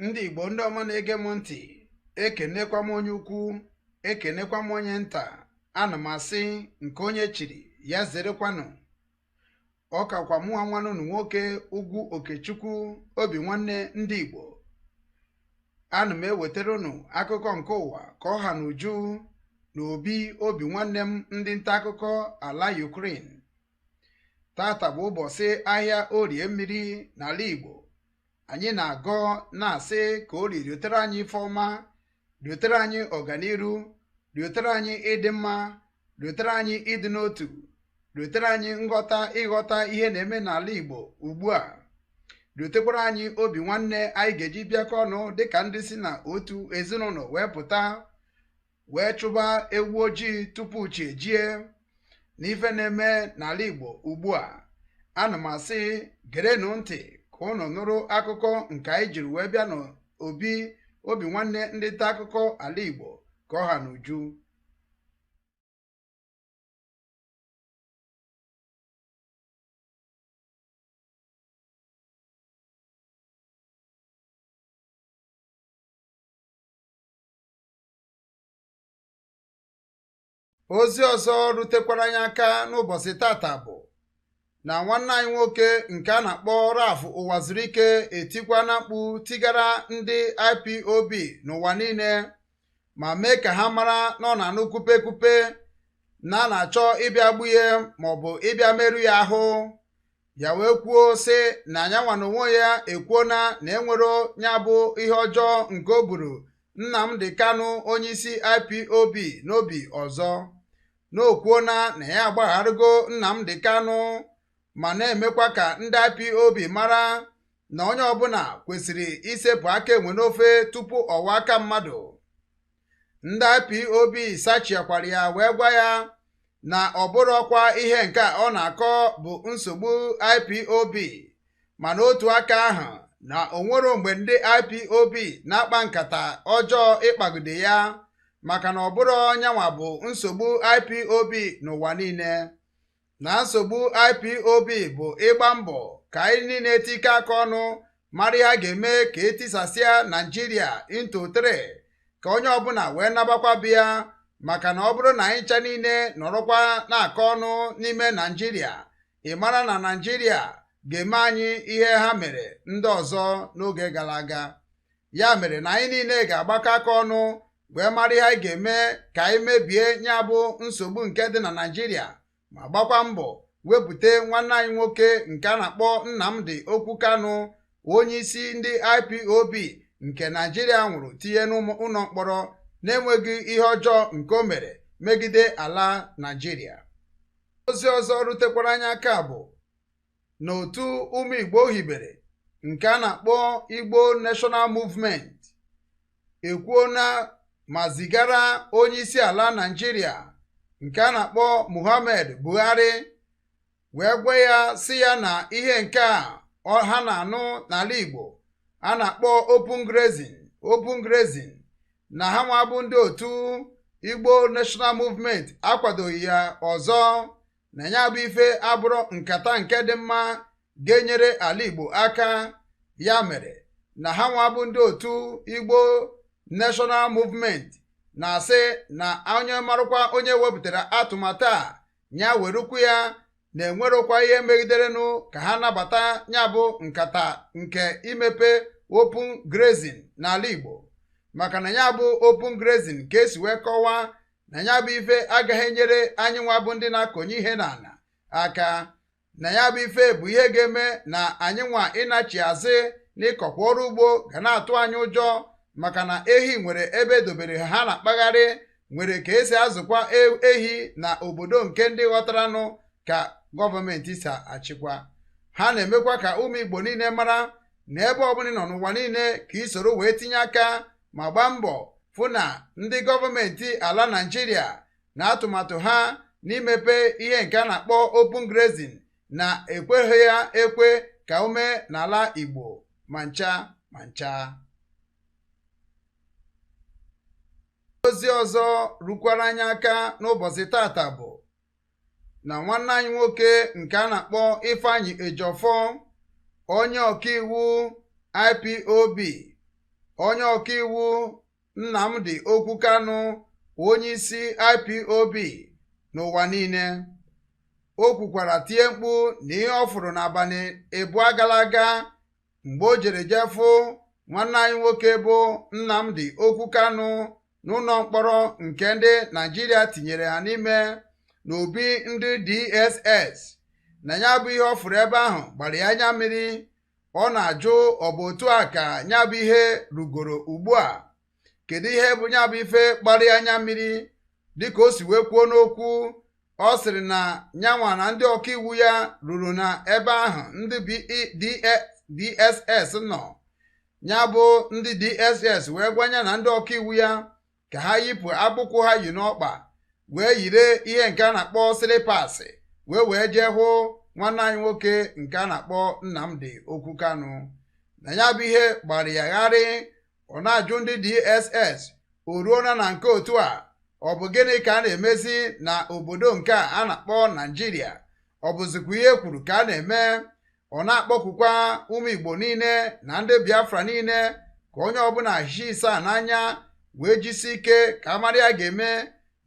ndị igbo ndị ọma na-ege m ntị ekenekwa m onye ukwu ekenekwa m onye nta ana m asị nke onye chiri ya zerekwanụ ọ kakwa mụnwa nwanne unu nwoke ugwu okechukwu obi nwanne ndị igbo ana m ewetara unu akụkọ nke ụwa ka ọ ha na uju na obi obi nwanne m ndị nta akụkọ ala Ukraine tata bụ ụbọchị ahịa orie mmiri n'ala igbo anyị na-agọ na-asị ka orie riotere anyị ife ọma riotere anyị ọganiru riotere anyị ịdị mma riotere anyị ịdị n'otu riotere anyị nghọta ịghọta ihe na-eme n'ala Igbo ugbu a riotekwara anyị obi nwanne anyị ga-eji bịakọ ọnụ dịka ndị si na otu ezinụlọ wee pụta wee chụba ewu ojii tupu chi ejie n'ife na-eme n'ala Igbo ugbu a ana m asị gerenụ ntị ka unu nụrụ akụkọ nke anyị jiri wee bịa n'obi obi nwanne ndị nta akụkọ ala Igbo ka ọ ha n'uju ozi ọzọ rutekwara anyị aka n'ụbọchị tata bụ na nwanne anyị nwoke nke a na-akpọ Ralph Ụwazuruike etikwana mkpu tigara ndị IPOB n'ụwa niile ma mee ka ha mara na ọ na-anụ kupe kupe na a na-achọ ịbịa gbue ya maọbụ ịbịa merụ ya ahụ ya wee kwuo sị na nyanwa na onwe ya ekwuona na enwero ya bụ ihe ọjọọ nke o buru Nnamdi Kanu onyeisi IPOB n'obi ọzọ na o kwuona na ya agbagharịgo Nnamdi Kanu ma na-emekwa ka ndị IPOB mara na onye ọbụla kwesịrị isepụ aka enwe n'ofe tupu ọ ghọọ aka mmadụ ndị IPOB sachiakwara ya wee gwa ya na ọ bụrọkwa ihe nke ọ na-akọ bụ nsogbu IPOB ma n'otu aka ahụ na o nwero mgbe ndị IPOB na-akpa nkata ọjọọ ịkpagide ya maka na ọ bụrọ nyanwa bụ nsogbu IPOB n'ụwa niile na nsogbu IPOB bụ ịgba mbọ ka anyị niile tikọ aka ọnụ mara ihe a ga-eme ka e tisasịa Naijiria into three ka onye ọbụla wee nabakwa be ya maka na ọ bụrụ na anyị ncha niile nọrọkwa na-akọ ọnụ n'ime Naijiria ị mara na Naijiria ga-eme anyị ihe ha mere ndị ọzọ n'oge gara aga ya mere na anyị niile ga-agbakọ aka ọnụ wee mara ihe anyị ga-eme ka anyị mebie ya bụ nsogbu nke dị na Naịjirịa ma gbakwa mbọ wepụta nwanne anyị nwoke nke a na-akpọ Nnamdi Okwu Kanu onye isi ndị IPOB nke Naịjirịa nwụrụ tinye n'ụlọ mkpọrọ na-enweghị ihe ọjọọ nke o mere megide ala Naịjirịa ozi ọzọ rutekwara anyị aka bụ na otu ụmụ Igbo hibere nke a na-akpọ Igbo National Movement ekwuona ma zigara onye isi ala Naịjirịa nke a na-akpọ Muhammad Buhari wee gwa ya sị ya na ihe nke a ha na-anụ n'ala Igbo a na-akpọ open grazing open grazing na ha nwa bụ ndị otu Igbo National Movement akwadoghị ya ọzọ na ya bụ ife abụrọ nkata nke dị mma ga-enyere ala Igbo aka ya mere na ha nwa bụ ndị otu Igbo National Movement na-asị na onye marụkwa onye wepụtara atụmatụ a ya werukwu ya na enwerokwa ihe megiderenụ ka ha nabata ya bụ nkata nke imepe open grazing n'ala Igbo maka na ya bụ open grazing ka esi wee kọwaa na ya bụ ife agaghị enyere anyị nwa bụ ndị na-akọnye ihe n'ala aka na ya bụ ife bụ ihe ga-eme na anyị nwa ịnachi azụ n'ịkọkwa ọrụ ugbo ga na-atụ anyị ụjọ maka na ehi nwere ebe edobere ha na-akpagharị nwere ka esi azụkwa e-, ehi na obodo nke ndị ghọtaranụ ka gọọmenti si achịkwa ha na-emekwa ka ụmụ Igbo niile mara na ebe ọbụla ị nọ n'ụwa niile ka i soro wee tinye aka ma gbaa mbọ fụ na ndị gọọmenti ala Naịjirịa na atụmatụ ha n'imepe ihe nke a na-akpọ open grazing na ekweghị ya ekwe ka o mee n'ala Igbo ma ncha ma ncha ozi ọzọ rukwara anyị aka n'ụbọchị tata bụ na nwanne anyị nwoke nke a na-akpọ Ifeanyi Ejiofor onye ọkaiwu IPOB onye ọkaiwu Nnamdi Okwu Kanu onye isi IPOB n'ụwa niile o kwukwara tie mkpu na ihe ọ fụrụ n'abalị abụọ gara aga mgbe o jere jee fụ nwanne anyị nwoke bụ Nnamdi Okwu Kanu n'ụlọ mkpọrọ nke ndị Naịjirịa tinyere ya n'ime n'obi ndị DSS na ya bụ ihe ọ fụrụ ebe ahụ gbara ya anya mmiri ọ na-ajụ ọ bụ otu a ka ya bụ ihe rugoro ugbu a kedu ihe bụ ya bụ ife gbara ya anya mmiri dịka o si wee kwuo n'okwu ọ sịrị na nya nwa na ndị ọkaiwu ya ruru na ebe ahụ ndị DSS e, nọ ya bụ ndị DSS wee gwanye na ndị ọkaiwu ya ka ha yipụ akpụkwụ ha yi n'ọkpa wee yiri ihe nke a na-akpọ slippers wee wee jee hụ nwanne anyị nwoke nke a na-akpọ Nnamdi Okwu Kanu na ya bụ ihe gbara ya gharị ọ na-ajụ ndị DSS o ruona na nke otu a ọ bụ gịnị ka a na-emezi na obodo nke a na-akpọ Naijiria ọ bụzikwa ihe e kwuru ka a na-eme ọ na-akpọkukwa ụmụ Igbo niile na ndị Biafra niile ka onye ọbụla hie asaa n'anya wee jisi ike ka a mara ihe a ga-eme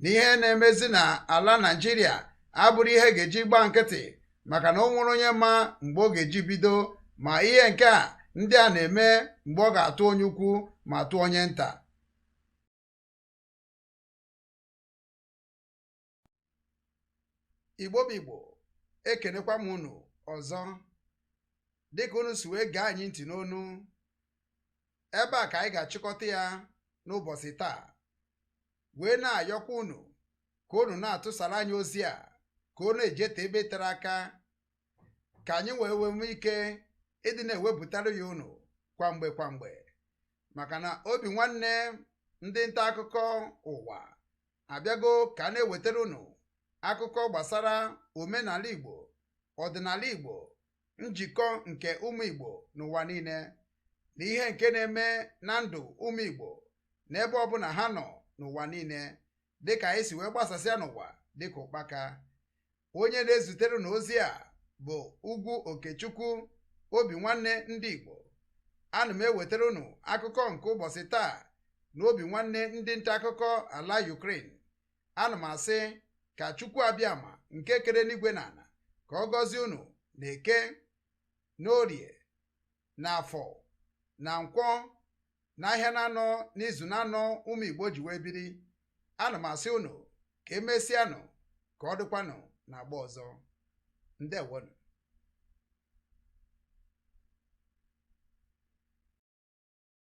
na ihe na-emezi na ala Naịjirịa abụrọ ihe a ga-eji gba nkịtị maka na o nwere onye ma mgbe ọ ga-eji bido ma ihe nke a ndị a na-eme mgbe ọ ga-atụ onye ukwu ma tụọ onye nta Igbo bụ Igbo ekenekwa m unu ọzọ dịka unu si wee gee anyị ntị n'onu ebe a ka anyị ga-achịkọta ya n'ụbọchị taa wee na-ayọkwa unu ka unu na-atụsara anyị ozi a ka unu ejeta ebe tere aka ka anyị wee wee nwee ike ịdị na-ewepụtara ya unu kwa mgbe kwa mgbe maka na obi nwanne ndị nta akụkọ ụwa abịago ka a na-ewetara unu akụkọ gbasara omenala Igbo ọdịnala Igbo njikọ nke ụmụ Igbo n'ụwa niile na ihe nke na-eme na ndụ ụmụ Igbo n'ebe ọbụla ha nọ n'ụwa niile dịka anyị si wee gbasasịa n'ụwa dịka ụkpaka onye na-ezitere unu ozi a bụ Ugwu Okechukwu obi nwanne ndị Igbo ana m ewetara unu akụkọ nke ụbọchị taa na obi nwanne ndị nta akụkọ ala Ukraine ana m asị ka Chukwu Abịama nke kere enigwe na ala ka ọ gọzie unu na Eke n'Orie na Afọ na Nkwọ n'ahịa naanọ n'izu naanọ ụmụ Igbo ji wee biri ana m asị unu ka e mesịanụ ka ọ dịkwanụ na agba ọzọ ndewonụ